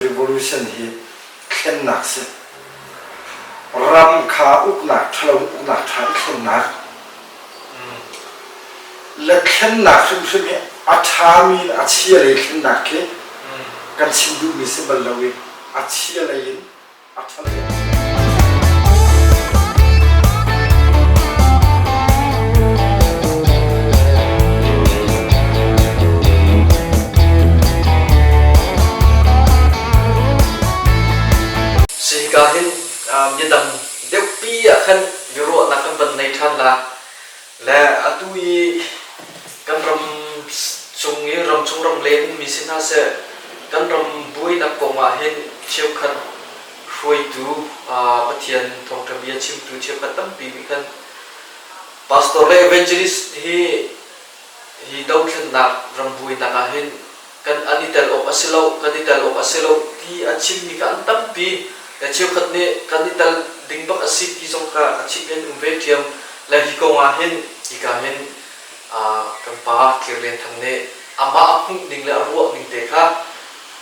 revolution hi thlennak si ram kha uknak thalo uknak tha i thlennak le thlennak hrimhrim hi a thami in a chia lei thlennak khi kan chim duhmi si bal lo i a chia lei in Sihika hin midang deuhpi ah khan biaruahnak kan van nei ṭhan la, le atu i kan ram chung i ramchung ramleng mi si hna seh kan ram buainak kong ah hin cheukhat hruaitu Pathian thawngṭha bia chimtu cheukhat tampi nih khan pastor le evangelist hi hi dothlennak ram buainak ah hin kan an i tel awk a si lo, kan i tel awk a si lo ti a chimmi kha an tampi. Na cheukhat nih kan i tel ding bak a si ti zong kha a chimh in um ve ṭhiam. Le hi kong ah hin hika hin kan pa Thlir Lian Thang nih amah a hmuh ning le a ruah ning te kha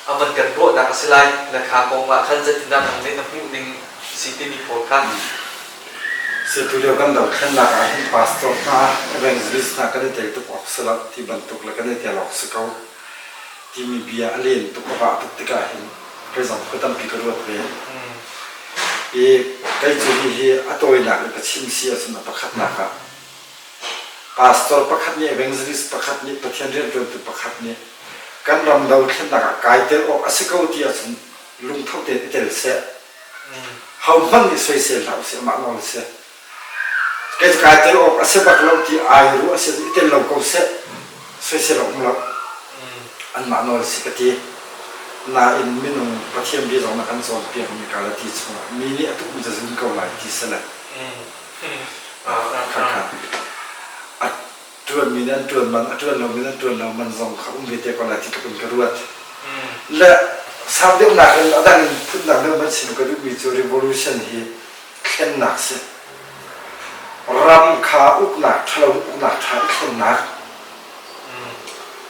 a man kan ruahnak a si lai. Le kha kong ah khan zeitindah nang nih na hmuh ning si timi pawl kha Atu lio kan dothlennak ah hin pastor hna, evangelist hna kan i tel tuk awk si lo ti bantuk le kan i tel awk si ko timi bia a len tuk a vah tuk tikah hin kai zong khua tampi ka ruat ve. I kai cu hi hi a tawinak le ka chim si ahcun a pakhatnak ah pastor pakhat nih evangelist pakhat nih Pathian rianṭuantu pakhat nih kan ram dothlennak ah kai tel awk a si ko ti ahcun lungtho tein i tel seh Hohmanh nih soisel hlah usih, amah lawng a si. Kei cu kai tel awk a si bak lo ti ai ruah a si i tel lo ko seh, soisel a um lo. Anmah nawl a si ka ti. Nain minung Pathian bia zong na kan cawnpiakmi Galati chungah mi nih a tum zazun ko lai ti si le. Khakha. ṭuanmi nih an ṭuan man, a ṭuan lomi nih an ṭuan lo man zong kha um ve te ko lai ti tluk in ka ruat. Le sang deuhnak in a dang in phutnak deuh man chim ka duhmi cu revolution hi thlennak si. Ram kha uknak, ṭhalo uknak ṭha i thlennak.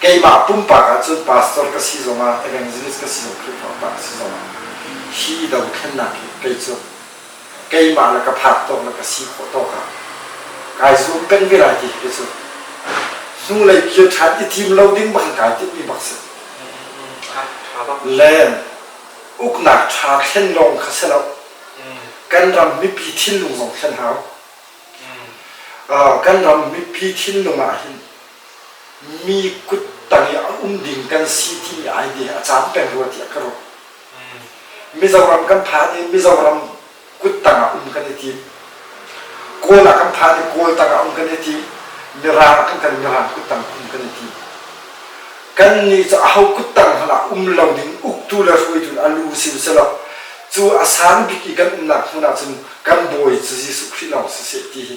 keimah pumpak ah cun pastor ka si zongah evangelist ka si zong Khrihfa pa ka si zongah hi dothlennak hi kei cu keimah le ka phak tawk le ka si khawh tawk ah kai zuam peng ve lai ti hi cu hnulei kir ṭhan i thim lo ding bang kai timmi bak si le uknak ṭha thlen lawng kha si lo kan ram mipi thinlung zong thlen hau kan ram mipi thinlung ah hin mi kut tang i a um ding kan si ti ai ve a caan peng rua tiah ka ruah Mizoram kan phan i Mizoram kut tang ah um kan i tim Kawl ah kan phan i Kawl tang ah um kan i tim Mirang kan kan Mirang kut tang um kan i tim kan nih cu a ho kut tang hmanh ah um lo ding uktu le hruaitu a lu si u selaw cu a san bik i kan umnak hmun ah cun kan bawi cu Jesuh Khrih lawng si seh ti hi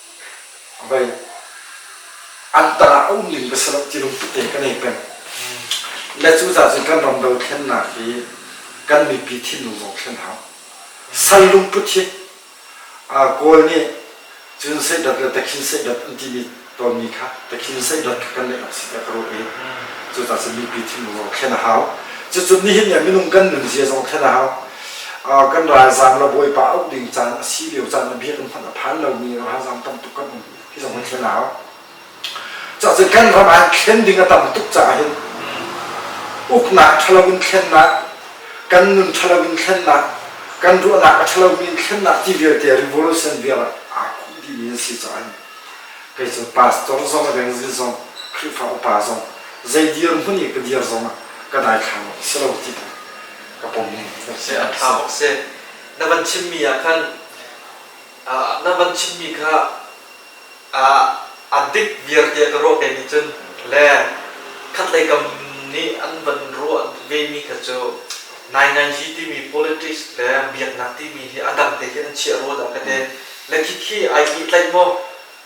an tar ah a um ning va si loh ti lungput te kan ei peng. Le cu caah cun kan ram dothlennak hi kan mipi thinlung zong thlen hau. Sal lungput hi Kawl nih cun seidat le takhin seidat an timi tonmi kha takhin seidat kha kan neih awk si tiah ka ruah i cucaah cun mipi thinlung zong thlen a hau. Cucu nihin ah minung kan nunzia zong thlen a hau. kan ralzaam le bawipa auh ding caan a si lio caan le bia kan phanh a phan lomi ralzaam tam tuk kan um hi zong kan thlen hau cacun kan ram ah thlen ding a tam tuk caah hin uknak ṭhalo in thlennak kan nun ṭhalo in thlennak kan ruahnak a ṭhalomi in thlennak ti vialte revolution vial aa khumh dimi an si caah kei cu pastor zong evangelist zong khrihfa upa zong zei dir hmun i ka dir zong ah ka dai thlang lo si lo ti ka pum seh a tha bak seh na van chimmi ah khan na van chimmi kha a dik viarte ka ruah pemi cun le khatlei kam nih an van ruah vemi kha cu nai timi politics le biaknak timi hi a dang te khin an chiah rua dah ka te le khi khi ai tlaih maw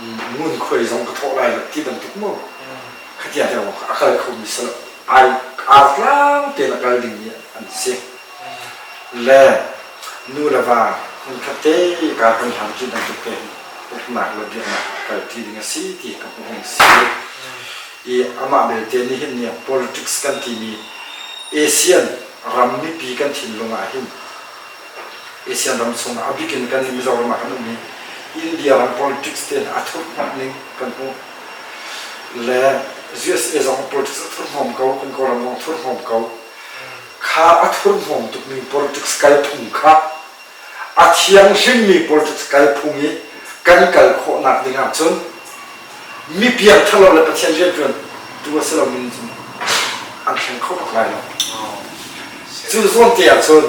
ngunkhuai zong ka thawh lai ti bantuk maw khatiang tiang a kal khomi sal ai ar tlang tein a kal dingmi an si le nu le va hmun khat te ka kan hlan ti bantuk te uknak le biaknak kal ti ding a si ti ka hmuh a si i amah belte ni hin ni politics kan timi ASEAN ram mipi kan thinlung ah hin ASEAN ram chung ah a bik in kan Mizoram ah kan um i India ram politics te a thurhhnawmh ning kan hmuh le USA zong politics a thurhnawm ko kan Kawlram zong thurhnawm ko kha a thurhnawm tukmi politics kalphung kha a thianghlimmi politics kalphung i kan kal khawhnak ding ahcun mi piang ṭhalo le Pathian rianṭuan tu a si lomi nih cun an thleng kho bak lai lo. Cu zawnte ah cun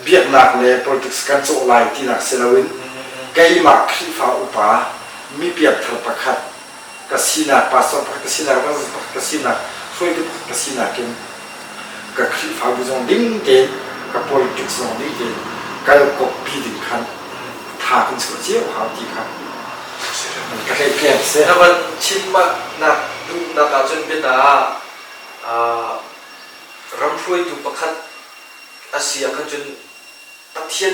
biaknak le politics kan cawh lai tinak si loin keimah Khrihfa upa mi piangthar pakhat ka sinak, pastor pakhat ka sinak, ralzat pakhat ka sinak, hruaitu pakhat ka sinak in ka Khrihfabu zong ding tein ka politics zong ding tein kal kawppi ding khan tha kan chuah cio hau ti kha ka hlei tlem si. Na van chimnak duhnak ahcun bianaah ram hruaitu pakhat a si ah khan cun Pathian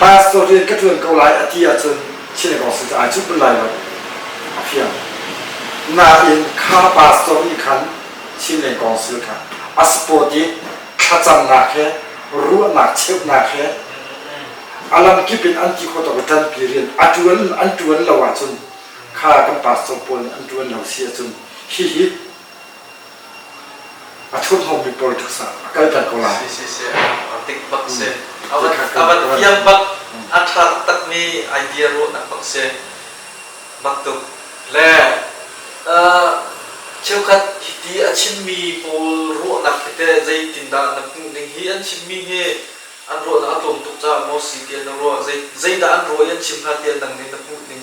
Pastor rian ka ṭuan ko lai a ti ahcun synagogue cu ai cup lai lo a fiang. Nain kha pastor nih khan Chinleng council kha a support i thlacamnak he ruahnak cheuhnak he a lamkip in an ti khawh tuk ṭanpi rian a ṭuan an ṭuan lo ahcun kha kan pastor pawl nih an ṭuan lo si ahcun hihi A ṭhuthomi politics ah a kalter ko lai. Si, si, si. A dik bak si. A van, a van fiang bak. A ṭha taktakmi idea ruahnak bak si. Baktuk. Le uh, cheukhat hiti a chimmi pawl ruahnak hi teh zeitindah na hmuh ning hi an chimmi hi an ruahnak a tlawm tuk caah maw si tiah na ruah zei, zeidah an ruah i an chim hna tiah nang nih na hmuh ning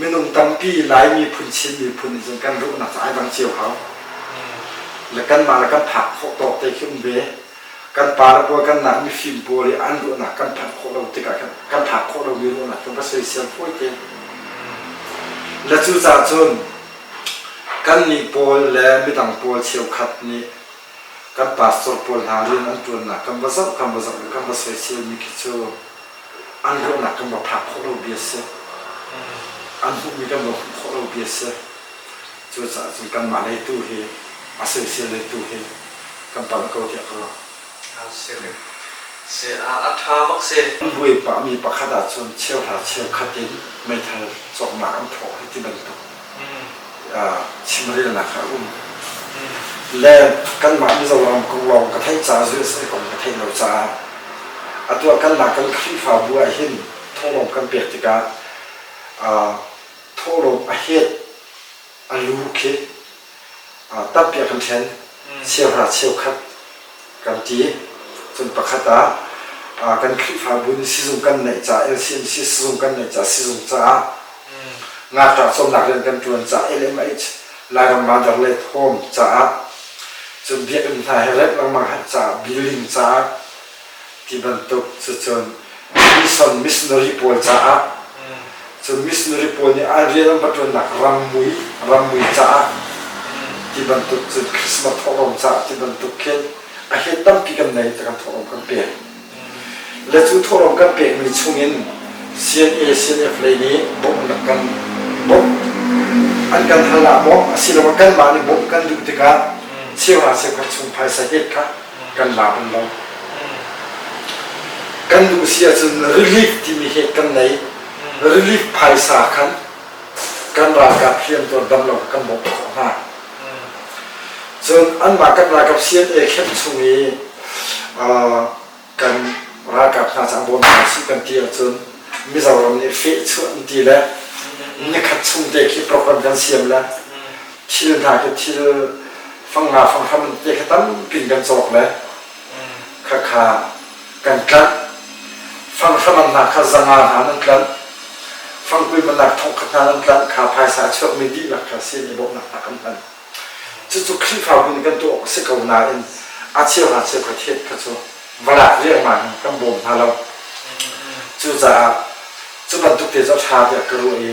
minung tampi Lai miphun Chin miphun nih cun kan ruhnak cu ai dang cio hau le kanmah le kan phak khawh tawk te khi um ve kan pa le pual kan nak mifim pawl i an ruahnak kan phanh khawh lo tikah kan, kan phak khawh lomi ruahnak cu va soisel fawi te le cucaah cun kan nih pawl le midang pawl cheukhat nih kan pastor pawl hla rian an ṭuannak kan va zoh kan va zoh le kan va soisselmi khi cu an ruahnak kan va phak khawh lo bia a si an hmuhmi kan va hmuh khawh lo bia a si cucaah cun kanmah lei tu hi a soisel lei tu hi kan palh ko tiah ka ruah. A ṭha bak si. An buai pahmi pakhat ahcun cheu hla cheu khat in meithal cawknak an thawh hi ti bantuk chimrelnak a um le kanmah Mizoram kong lawng ka theih caah USA kong ka theih lo caah a tuah kan la kan Khrihfabu ah hin thonglawm kan pek tikah thawhlawm a het a lu khi tampi a kan thlen sianghnah cheukhat kan ti cun pakhat ah kan khrihfabu in sizung kan neih caah LCMC sizung kan neih caah sizung caah ngakṭah cawmnak rian kan ṭuan caah LMH Lairam Mandar Late Home caah cun biakinn hna he remh lengmang caah building caah ti bantuk cucun Mission missionary pawl caah cu missionary pawl nih an rian an va ṭuannak rammui rammui caah ti bantuk cun Christmas thawhlawm caah ti bantuk khin a hen tampi kan nei ti kan thawhlawm kan pek le cu thawhlawm kan pekmi chungin CNA CNF lei nih bawmh an rak kan bawmh an kan hal ah bawmh asiloah kanmah nih bawmh kan duh tikah cheuhra cheukhar chung phaisa hek kha kan lak um lo kan duh si ahcun relief timi hi kan nei relief phaisa khan kan ralkap riantuan dam lo kan bawk khawh hna cun anmah kan ralkap CNA khenh chung i kan ralkap hna cang bawm hna si kan ti ahcun Mizoram nih feh chuah ti le nikhat chung te khi program kan siam le thil hna khi thil fangla fanghram te kha tampi kan cawk le khakha kan tlanh fanghram hna kha zanga hna nan tlanh fangkui manak thongkhat hna nan tlanh kha phaisa a chuakmi dihlak kha sin i bawmhnak hna kan hman cucu khrihfa bu nih kan tuah awk a si ko nain a cheu hna cheu kha thiet kha cu va lak riangmang in kan bawm hna lo cucaah cu bantuk te cu ṭha tiah ka ruah i